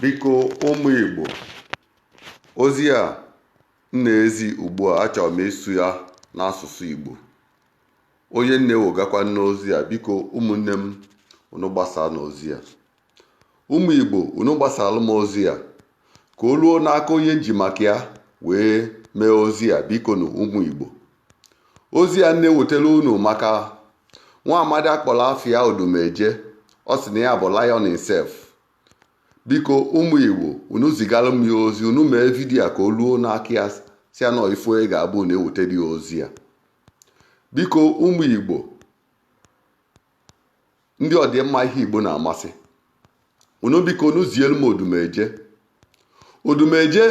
biko ụmụ igbo ozi a m na-ezi ugbu a achọrọ m ịsụ ya n'asụsụ igbo onye m na-ewegakwa n'ozi a biko ụmụnne m unu gbasaa n'ozi a ụmụ igbo unu gbasaara m ozi a ka o ruo n'aka onye m ji maka ya wee mee ozi a bikonu ụmụ igbo ozi a m na-ewetara unu maka nwa amadi a kpọrọ afa ya odumeje ọ sị na ya bụ lion himself biko ụmụ igbo unu zigara m ya ozi unu mee vidiyo ka o ruo n'aka ya sị ya na ife ọ ga-abụ na ewetara ya ozi a biko ụmụ igbo ndị ọdịmma ihe igbo na-amasị unu biko unu zielu m odumeje odumeje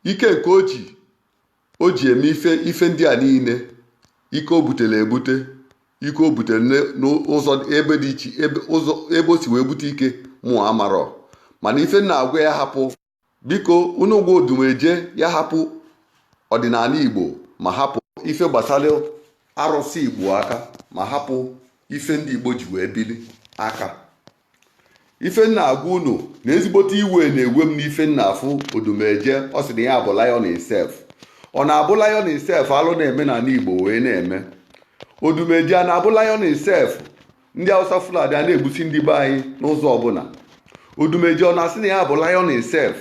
ike nke o ji o ji eme ife ife ndị a niile ike o butere ebute ike o butere ne- n'ụzọ ebe dị iche ebe ụzọ ebe o si wee bute ike mụ amarọ mana ife m na-agwa ya hapụ biko unu gwa odumeje ya hapụ ọdịnala igbo ma hapụ ife gbasara arụsị igbo aka ma hapụ ife ndị igbo ji wee bili aka ife m na-agwa unu na ezigbote iwe na-ewe m n'ife m na-afụ odumeje ọ sị na ya bụ lion himself ọ na-abụ lion himself alụ na-eme n'ala igbo wee na-eme odumeje a na-abụ lion himself ndị awụsa fulani a na-egbusi ndị be anyị n'ụzọ ọbụla odumeje ọ na-asị na ya bụ lion himself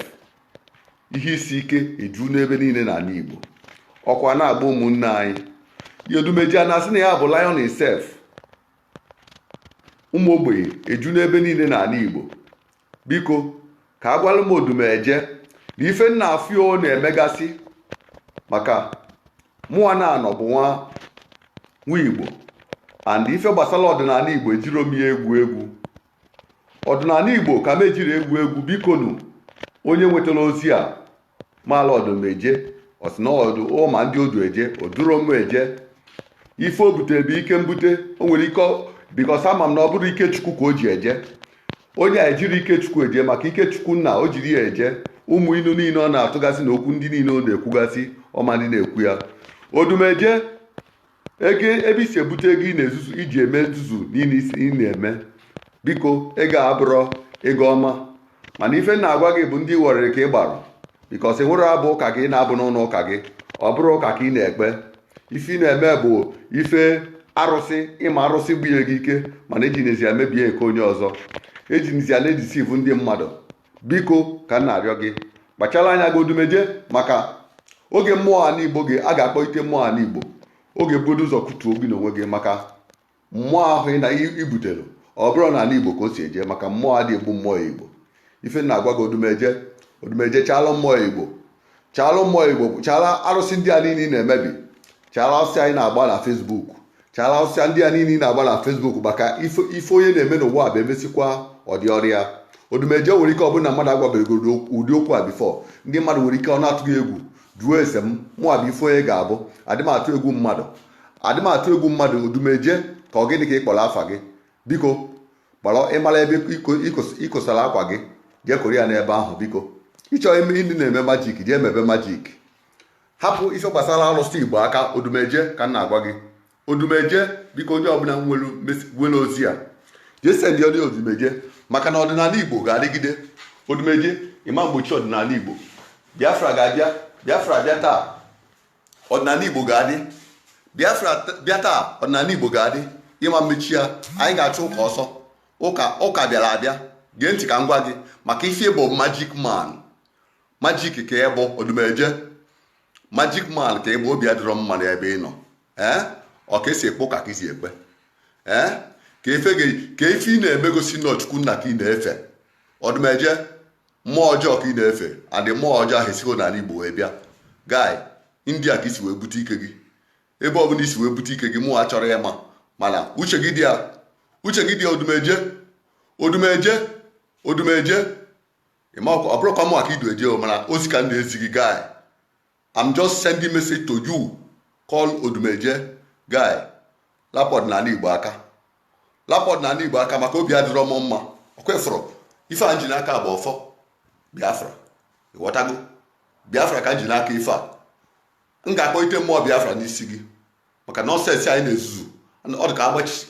ihe isi ike eju n'ebe niile n'ala igbo ọkụ a na-agba ụmụnne anyị odumeje a na-asị na ya bụ lion himself ụmụ ogbenye eju n'ebe niile n'ala Igbo biko ka a gwara m odumeje na ife m na-afụ ọ na-emegasị maka mụwa na-anọ bụ nwa nwa Igbo and ife gbasara ọdịnala Igbo ejirọ m ya egwu egwu ọdịnala Igbo ka m ejirọ egwu egwu bikonu onye nwetara ozi a mala odumeje ọ sị na o du ọ ma ndị o du eje o duro m eje ife o butere bụ ike mbute o nwerọ ike because ama m na ọ bụrọ ike chukwu ka o ji eje onye a ejirọ ike chukwu eje maka ike chukwu nna o jirọ ya eje ụmụ inu niile ọ na-atụgasị na okwu ndị niile ọ na-ekwugasị ọ ma ndị na-ekwu ya odumeje ego ebe i si ebute ego ị na-ezuzu i ji eme nzuzu niile ị na-eme biko ego abụrọ ego ọma mana ife m na-agwa gị bụ ndị ị ghọrịrị ka ị gbara because i nwerọ abụ ụka gị ị na-abụ n'ụlọ ụka gị ọ bụrọ ụka ka ị na-ekpe ife ị na-eme bụ ife arụsị ị ma arụsị bunye gị ike mana ejinezi ya mebie nke onye ọzọ ejinezi ya na-edeceive ndị mmadụ biko ka m na-arịọ gị kpachara anya gị odumeje maka oge mmụọ ala igbo gị a ga-akpọite mmụọ ala igbo ọ ga-ebugodo ụzọ kụtuo gị n'onwe gị maka mmụọ ahụ ị na-ebute ọ bụrọ n'ala igbo ka o si eje maka mmụọ adị egbu mmụọ igbo ife m na-agwa gị odumeje odumeje chala mmụọ igbo chara mmụọ igbo chara arụsị ndị a niile ị na-emebi chara arụsị a ị na-agba na facebook chara arụsị ndị a niile ị na-agba na facebook maka ife onye na-eme n'ụwa a bụ e mesịkwa ọ dịrị ya odumeje nwere ike ọ bụrụ na mmadụ agwaberọ gị ụdị okwu a before ndị mmadụ nwere ike ọ na-atụ gị egwu jụọ ese m mụwa bụ ife onye ga-abụ adị m atụ egwu mmadụ adị m atụ egwu mmadụ odumeje ka ọ gịnị ka ị kpọrọ afa gị biko kpọrọ ị mara ebe i kosara akwa gị jee koro ya n'ebe ahụ biko ị chọọ ime ndị na-eme magic jee mebe magic hapụ ife gbasara arụsị igbo aka odumeje ka m na-agwa gị odumeje biko onye ọbụla nwere ozi a jee sendị nye odumeje maka na ọdịnala igbo ga-adịgide odumeje ị ma mgbochi ọdịnala igbo biafra ga-abịa biafra bịa taa ọdịnala Igbo ga-adị Biafra bịa taa ọdịnala Igbo ga-adị ị ma mmechi ya anyị ga-achụ ụka ọsọ ụka bịara abịa gee ntị ka m gwa gị maka ife ị bụ magic man magic ka ị bụ odumeje magic man ka ị bụ obi adịrọ m mma n'ebe ị nọ ee ọ ka e si ekpe ụka ka i si ekpe ee ka ife ị na-eme gosi na ọ chukwu nna ka ị na-efe odumeje mmụọ ọjọọ ka ị na-efe and mmụọ ọjọọ ahụ esighọ n'ala igbo wee bịa guy india ka i si wee bute ike gị ebe ọbụla i si wee bute ike gị mụwa achọrọ ịma mana uche gị dị ya uche gị dị ya odumeje odumeje odumeje ị ma ọ bụrọkwa mụwa ka i du eje mana ozi ka m na-ezi gị guy I'm just sending message to you call odumeje guy lapụ ọdịnala igbo aka lapụ ọdịnala igbo aka maka obi adịrọ m mma ọ kwa ị fụrụ ife a m ji n'aka bụ ọfọ biafra ị ghọtago biafra ka m ji n'aka ife a m ga-akpọite mmụọ biafra n'isi gị maka nonsense a ị na-ezuzu ọ dị ka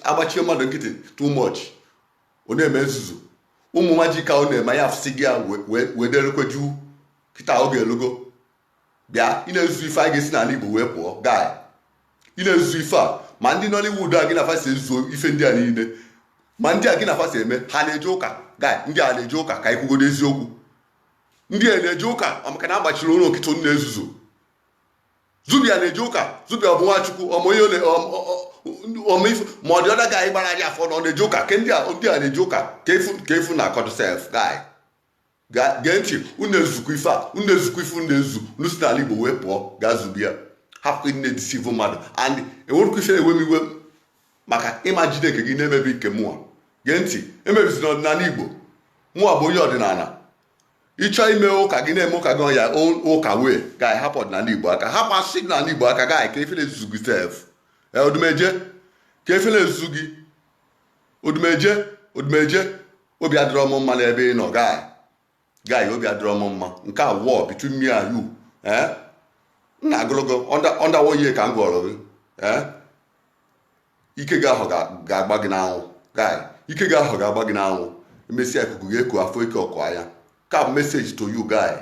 a gbachie mmadụ nkịtị too much ọ na-eme nzuzu ụmụ magic a ọ na-eme anyị afụsịgo ya wee derekwe juu kịta oge elugo bịa ị na-ezuzu ife a ga-esi n'ala igbo wee pụọ guy ị na-ezuzu ife a ma ndị nollywood a gị na fa so ezuzu ife ndị a niile ma ndị a gị na fa so eme ha na-eje ụka guy ndị a na-eje ụka ka i kwugodo eziokwu ndị a na-eje ụka maka na a gbachiri ụnụ nkịtị na-ezuzu zubby a na-eje ụka zubby a ọ bụ nwachukwu ọmụ ihe omeifu ma ọ dị ọda gaghị gbara anyị afọ na ọ na-eje ụka ke ndị a na-eje ụka ka efu na akọdụ sef guy Guy gee ntị, unu ezukwa ife a, unu ezukwa ife unu ezu, unu si n'ala Igbo wee pụọ gaa zubi ya. Hapụ ịdị na-edisivu mmadụ and enwerụkwa ife na-ewe m iwe maka ịma jide nke gị na-emebi nke mụnwa. Gee ntị, emebizina ọdịnala Igbo. Mụnwa bụ onye ọdịnala. Ịchọ ime ụka gị na-eme ụka gị on your own ụka wee guy hapụ ọdịnala Igbo aka. Hapụ asụsụ ọdịnala Igbo aka guy kee ife na-ezuzu gị sef. Ee, Odumeje, kee ife na-ezuzu gị odumeje odumeje obi adịrọ m mma n'ebe ị nọ guy guy obi adịrọ m mma nke a war between me and you eh? m na-agụlụgo ọndawo ihe ka m gụọrọ gị eh? ike gị ahụ ga-agba gị n'anwụ guy ike gị ahụ ga-agba gị n'anwụ emesịa ikuku gị eku afọ ike ọkụ anya ka message to you guy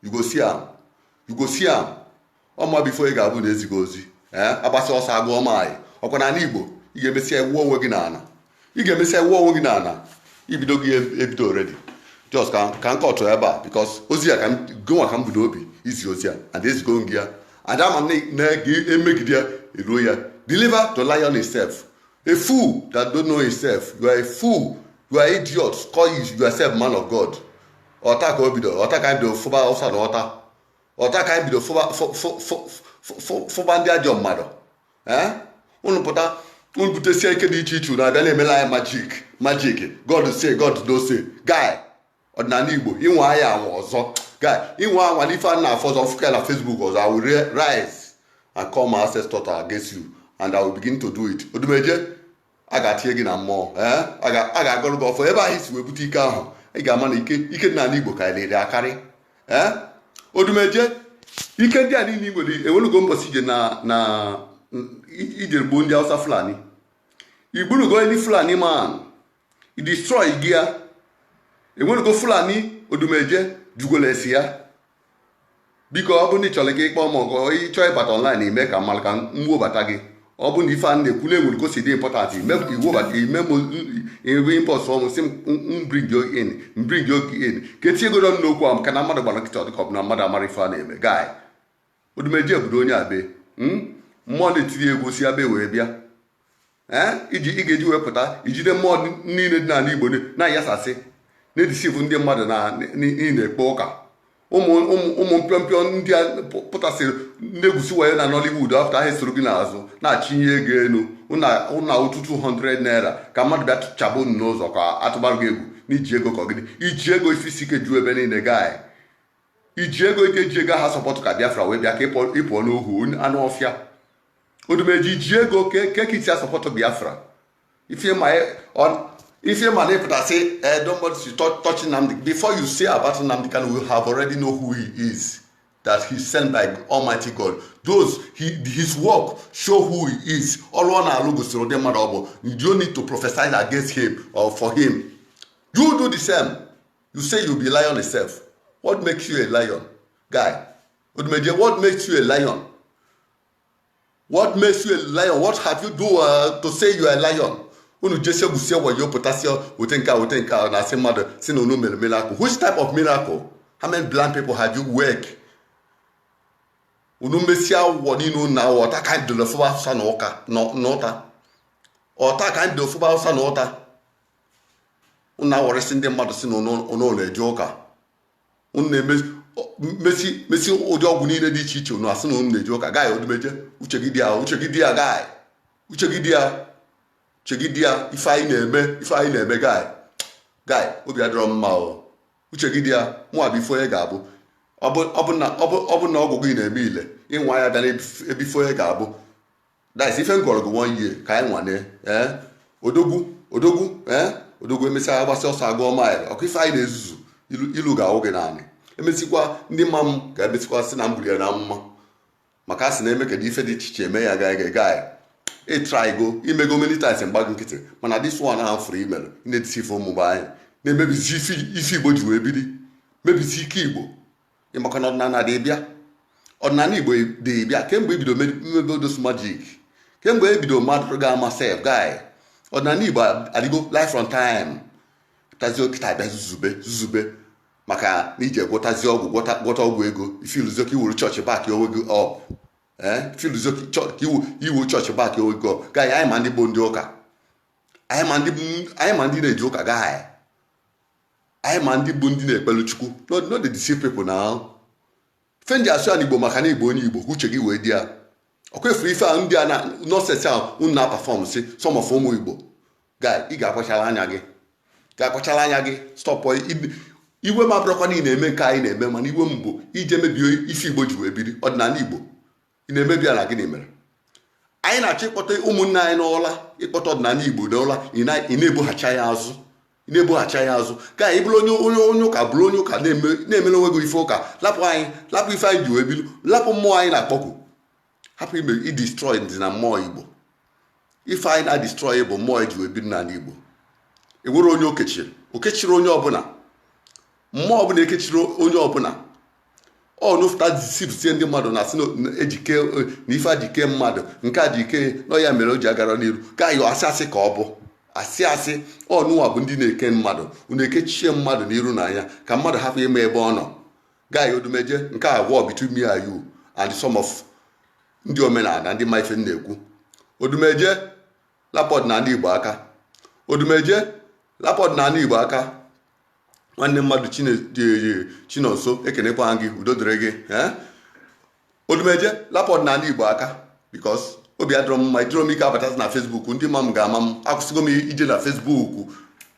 you go see am you go see am ọma before ị ga-abụ na ezi gị ozi ee agbasa ọsọ agụọ maanyị ọkwa n'ala igbo ị ga-emesịa iwu onwe gị n'ala ị ga-emesịa iwu onwe gị n'ala ibido gị ebido already just ka ka m kọtụ ebe a because ozi ya ka gịnwa ka m bu n'obi izi ozi ya and ezigo gị ya and ama na a ga-emegide ya eruo ya deliver to lion himself a fool that don't know himself you are a fool you are idiot call yourself man of god ọ taa ka o bido ọ taa ka anyị bido fụba Awụsa na ụta ọ taa ka anyị bido fụba ndị ajọ mmadụ unu pụta unu butesie ike dị iche iche unu abịa na-emela anyị magic magic god say god no say guy ọdịnala igbo ị nwaa ya anwa ọzọ guy ị nwaa anwa na ife a na-afụ ọzọ fụkwa na facebook ọzọ i will rise and call my ancestor against you and i will begin to do it odumeje a ga-atinye gị na mmụọ eh? a ga-agọrọ gị ọfọ ebe ahụ i si wee bute ike ahụ ị ga-ama na ike dị n'ala Igbo karịrị akarị eh? odumeje ike ndị a niile i nwere enwelugo mbọsị ije na na ije gbuo ndị Hausa Fulani i gburugo ndị Fulani man i destroy gị ya enwelugo Fulani odumeje jugolesi ya biko ọ bụ na ị chọrọ ka ịkpọ m ọgụ ịchọ ịbata online ime ka m mara ka m webata gị ọ bụ na ife a na-ekwu na enwere ka o si dị important ime ka iwebata ime m ebe inbox mụ sị m bring you in m bring you in ka etinyegodu ọnụ n'okwu ahụ maka na mmadụ gbara nkịtị ọdịka ọ bụ na mmadụ amara ife a na-eme guy odumeje obodo onye abe mmụọ na-etiri egwu si abe wee bịa iji ị ga-eji wee pụta ijide mmụọ niile dị n'ala Igbo na-ayasasị na-edisivu ndị mmadụ na na-ekpe ụka ụmụ mpịọmpịọ ndị a pụtasịrị na-egwusi wayo na Nollywood after ha esoro gị n'azụ na-achịnye ego elu ụna ụtụ 200 naira ka mmadụ bịa chaba unu n'ụzọ ka atụbarụ gị egwu na i ji ego ka ọgịdị iji ego isi isi ike ju ebe niile guy iji ego ị ka-eji ego ahụ support ka Biafra wee bịa ka ịpụọ n'ohu anụ ọfịa odumeji ji ego ke ke kiti asọpọtụ biafra ife ma e- ọ- ife ma na ịpụtasị eh, don't bother to touch, touch Nnamdi before you say about Nnamdi Kanu you have already know who he is that he sent by Almighty God those he, his work show who he is ọrụ ọ na-alụ gosiri ụdị mmadụ ọ bụ you don't need to prophesize against him or for him you do the same you say you be lion yourself what makes you a lion guy odumeje what makes you a lion what makes you a lion what have you do uh, to say you are a lion unu jesie gwusie wayo pụtasịa ote nke a ote nke a na-asị mmadụ sị na unu mere miracle which type of miracle how many blind people have you wake unu mesia awụwọ niile unu na-awọ ọta ka anyị dịrị fụba afụsa na ụka na ụta ọta ka anyị dịrị fụba afụsa na ụta unu awọrịsị ndị mmadụ sị na unu na-eje ụka unu na-emesi mesi mesi ụdị ọgwụ niile dị iche iche unu asị na unu na-eje ụka guy odumeje uche gị dị ya uche gị dị ya guy uche gị dị ya uche gị dị ya ife anyị na-eme ife anyị na-eme guy guy obi adịrọ mma o uche gị dị ya mụ abụ ife onye ga-abụ ọ bụ ọ bụ na ọ bụ ọ bụ na ọgwụ gị na-eme ile ịnwa ya bịa na ebife onye ga-abụ That's ife m gwọrọ gị one year ka anyị nwane ee eh? odogwu odogwu ee eh? odogwu emesịa agbasịa ọsọ agụọ mile ọkụ ife a ị na-ezuzu ilu ga-awụ gị n'anị emesịkwa ndị mma m ga-emesịkwa sị na m gburu ya na mma maka a sị na eme kedu ife dị iche iche eme ya guy guy guy ị trygo i mego many times m gba gị nkịtị mana this one ahụ fụrụ i melu na-edisi ife ụmụba anyị na-emebizi ife igbo ji wee biri mebisi ike igbo ị makwa na ọdịnala dị bịa ọdịnala igbo dị bịa kemgbe i bido mebe all those magic kemgbe ebido mmadụ ga-ama sef guy ọdịnala igbo adịgo life from time tazi kịta ị bịa zuzube zuzube maka na i je gwọtazi ọgwụ gwọta ọgwụ ego i feeluzio ka i were church back onwe gị up eh, feeluzio ka i were church back onwe gị up guy anyị ma ndị bụ ndị ụka anyị ma ndị na-eje ụka guy anyị ma ndị bụ ndị na-ekpelu chukwu no no dey deceive people na ife m ji asụ ya n'igbo maka na igbo onye igbo ka uche gị wee dị ya ọkwa ị fụrụ ife ahụ ndị a na nonsense ahụ unu na-aperform si some of ụmụ igbo guy ị ga-akpachara anya gị ga-akpachara anya gị stop iwe m abụrọkwa na ị na-eme nke anyị na-eme mana iwe m bụ i je mebie ife igbo ji wee biri ọdịnala igbo ị na-emebi ya na gịnị mere anyị na-achọ ịkpọte ụmụnne anyị n'ụla ịkpọte ọdịnala igbo n'ụla ị na-ebughachi ya azụ ị na-ebughachi ya azụ guy ị bụrụ onye onye onye ụka bụrụ onye ụka na-emere onwe gị ife ụka lapụ anyị lapụ ife anyị ji wee bilu lapụ mmụọ anyị na-akpọku hapụ ime idestroy dị na mmụọ igbo ife a ị na-adestroy bụ mmụọ eji wee biri n'ala Igbo enwere onye okechiri okechiri onye ọbụla mmụọ ọbụla ekechiri onye ọbụla unu fụta deceivesie ndị mmadụ na asị ejike na ife e ji kee mmadụ nke a ji kee nọ ya mere o ji agara n'iru guy ọ asị asị ka ọ bụ asị asị unuwa bụ ndị na-eke mmadụ unu ekechie mmadụ n'iru na anya ka mmadụ hapụ ịma ebe ọ nọ Guy Odumeje nke a war between me and you and some of ndị omenala ndị ma ife m na-ekwu Odumeje lapụ ọdịnala Igbo aka Odumeje lapụ ọdịnala Igbo aka nwanne mmadụ Chine- Chi- Chinonso ekenekwa gị udo dịrị gị eh? odumeje lapụ ọdịnala igbo aka bikos obi adịrọ m mma ijiro m ike abatazi na fesbuk ndị ma m ga-ama m akwụsịgo m ije na fesbuk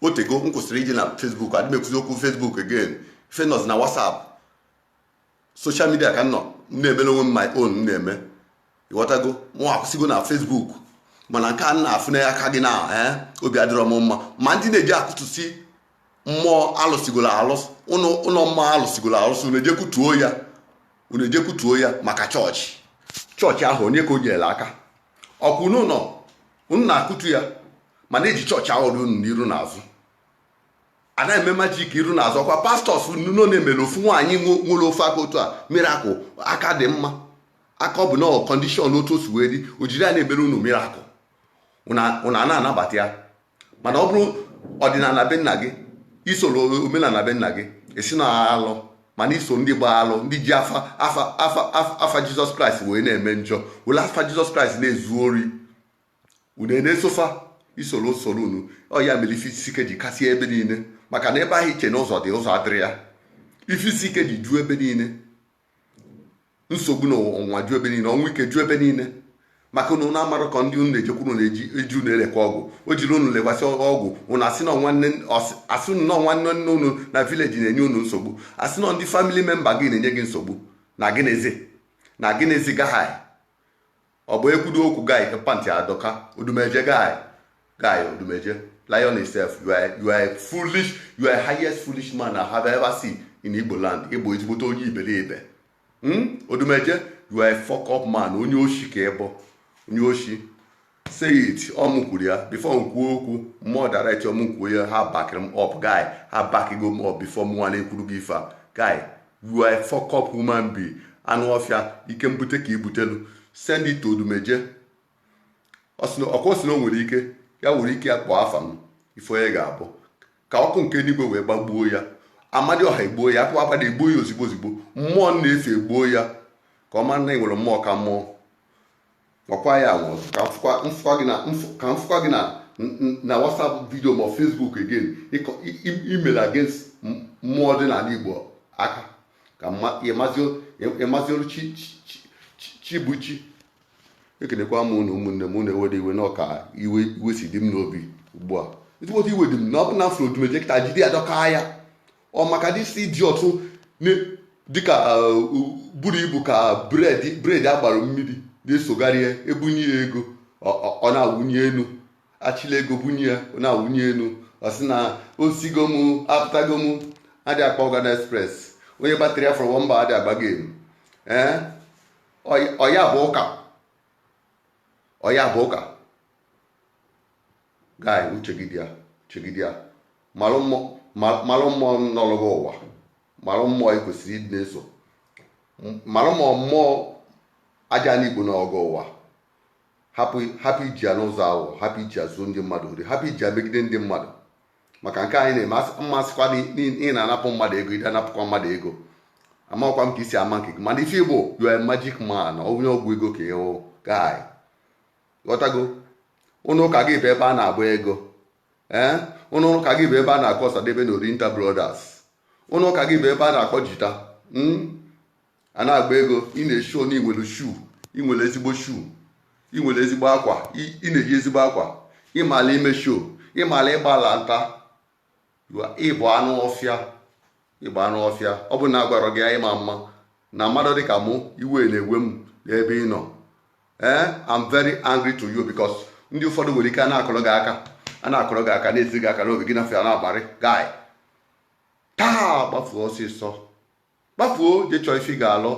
otego m kwụsịrị ije na fesbuk adị m ekwuzi okwu fesbuk again ife nọzi na wasap soshal midia ka m nọ m na-emere onwe m my own m na-eme ịghọtago mụ akwụsịgo na fesbuk mana nke a na-afụ na aka gị na eh, obi adịrọ m mma ma ndị na-eji akụtụsi mmụọ alụsịgoro alụsị ụlọ mmụọ alụsịgoro alụsị na-eje kutuo ya unu eje kutuo ya maka chọọchị chọọchị ahụ onye ka o nyere aka ọkwa unu nọ unu na-akụtu ya mana eji chọọchị ahụ unu n'iru na azụ a na-eme majik iru na azụ ọkwa pastọs nọ na-emere ofu nwaanyị nwere ofu aka otu a mirakụl aka dị mma aka ọ bụ na kọndishọn otu o si wee dị o jiri ya na-emere unu mirakụl unu ana-anabata ya mana ọ bụrụ ọdịnala be nna gị isoro omenala be nna gị ịsị na alụ mana iso ndị gba alụ ndị ji afa afa afa afa jizọs kraịst wee na-eme njọ were afa jizọs kraịst na-ezu ori unu na-eso fa isoro usoro unu ọ ya mere ife isi ike ji kasịa ebe niile maka na ebe ahụ iche na ụzọ dị ụzọ adịrọ ya ife isi ike ji juo ebe niile nsogbu na ọnwa ju ebe niile ọnwụ ike ju ebe niile maka na ụnụ amarọ ka ndị ụnụ na-ejekwuru na-eji eji ụnụ elekwa ọgwụ o jiri ụnụ lekwasị ọgwụ ụnụ asị na nwanne asị ụnụ na nwanne nne ụnụ na vileji na-enye ụnụ nsogbu asị na ndị famili memba gị na-enye gị nsogbu na gịnịzi na gịnịzi gai ọ bụ ekwudo okwu gai ka pantị adọka odumeje gai gai odumeje lion itself you are, you are foolish you are highest foolish man I have ever seen in Igbo land ịbụ ezigbote onye iberibe hmm? odumeje you are a fuck up man onye oshi ka ịbụ onye oshi say it ọ mụ kwuru ya before m kwuo okwu mmụọ direct ọ mụ kwuo ya ha bakịrị m up guy ha bakigo m up before mụnwa na-ekwuru gị ife a guy You are a fuck up human being. Anụ ọfịa ike mbute ka ibutelu. Send it to Odumeje. Ọkwa ọ sị na o nwere ike ya nwere ike ya kpọọ afa m ife onye ga-abụ ka ọkụ nke enuigwe wee gbagbuo ya amadịọha egbuo ya akpụ agbada egbuo ya ozigbo ozigbo mmụọ m na-efe egbuo ya ka ọ mara na e nwere mmụọ ka mmụọ gwakwa ya agwa ọzọ ka m fụkwa- m fụkwa gị na m fụ- ka m fụkwa gị na n- n- na whatsapp vidio ma facebook again ịkọ- i- i- imere against m- mmụọ ọdịnala igbo aka ka mma- ịmazi- ịmazi olu chi chi- chi- chi- chi bụ chi ekelekwa m unu ụmụnne m unu ewede iwe na ọ ka iwe iwe si dị m n'obi ugbu a ezigbote iwe dị m na ọ bụ na m fụrụ odumeje kịta jide ya dọka ya ọ maka this idiot dịka uh, buru ibu ka bread bread agbara mmiri na-esogharị ya ebunye ya ego ọ na-awụnye enu achịla ego bunye ya ọ na-awụnye enu ọ sị na osigo m apụtago m adị akpa ọgana express onye batịrị ya fọrọ mba adị agba game ee ọ ya bụ ụka ọ ya bụ ụka Guy, uche gị dị ya, uche gị dị ya. Malụ mmụọ ma- malụ mmụọ nọlụ gị ụwa. Malụ mmụọ ị kwesịrị ịdị na-eso. M- Malụ ma mmụọ Ajana Igbo nọlụ gị ụwa. Hapụ hapụ iji ya n'ụzọ ahụ, hapụ iji ya zuo ndị mmadụ ori, hapụ iji ya megide ndị mmadụ. Maka nke anyị na-eme asị- m ma asịkwa na ị- ị ị na-anapụ mmadụ ego, ị na-anapụkwa mmadụ ego. Amakwa m ka i si eme nke gị. Mana ife ị bụ, you are a magic man, onye ọgwụ ego ka ị bụ, guy. ghọtago ụnọ ụka gị bụ ebe a na-agba ego ee ụnọ ụka gị bụ ebe a na-akpọ Osadebe na Oriental Brothers ụnọ ụka gị bụ ebe a na-akpọ jita hmm? a na-agba ego ị na-esho na i nwere shoe i nwere ezigbo shoe i nwere ezigbo akwa ị na-eyi ezigbo akwa ịmala ime show ịmala ịgbala nta ị bụ anụ ọfịa ị bụ anụ ọfịa ọ bụ na agwarọ gị ị ma ama na mmadụ dị ka mụ iwe na-ewe m n'ebe ị nọ ee eh, I'm very angry to you because ndị ụfọdụ nwere ike a na-akụrụ gị aka a na-akụrụ gị aka na-esi gị aka n'obi gị n'ọfịa na-agbarị guy taa gbafuo ọsịsọ gbafuo je chọọ ife ị ga-alụ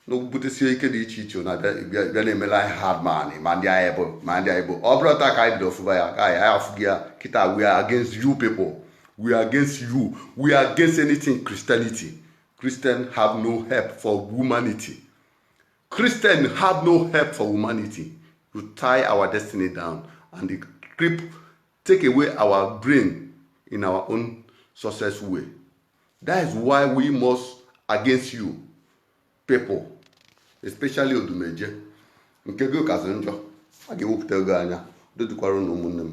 na obutesie ike dị iche iche na bịa- bịa bịa na-emela anyị hard man ma ndị anyị bụ ma ndị anyị bụ ọ bụrụ taa ka anyị bido fụba ya ka anyị anyị afụghị ya kịta we are against you people we are against you we are against anything christianity christian have no help for humanity christian have no help for humanity you tie our destiny down and they creep take away our brain in our own success way that is why we must against you people especially odumeje nke gị kazi njọ a ga-ewepụta ego anya dodukwara unu ụmụnne m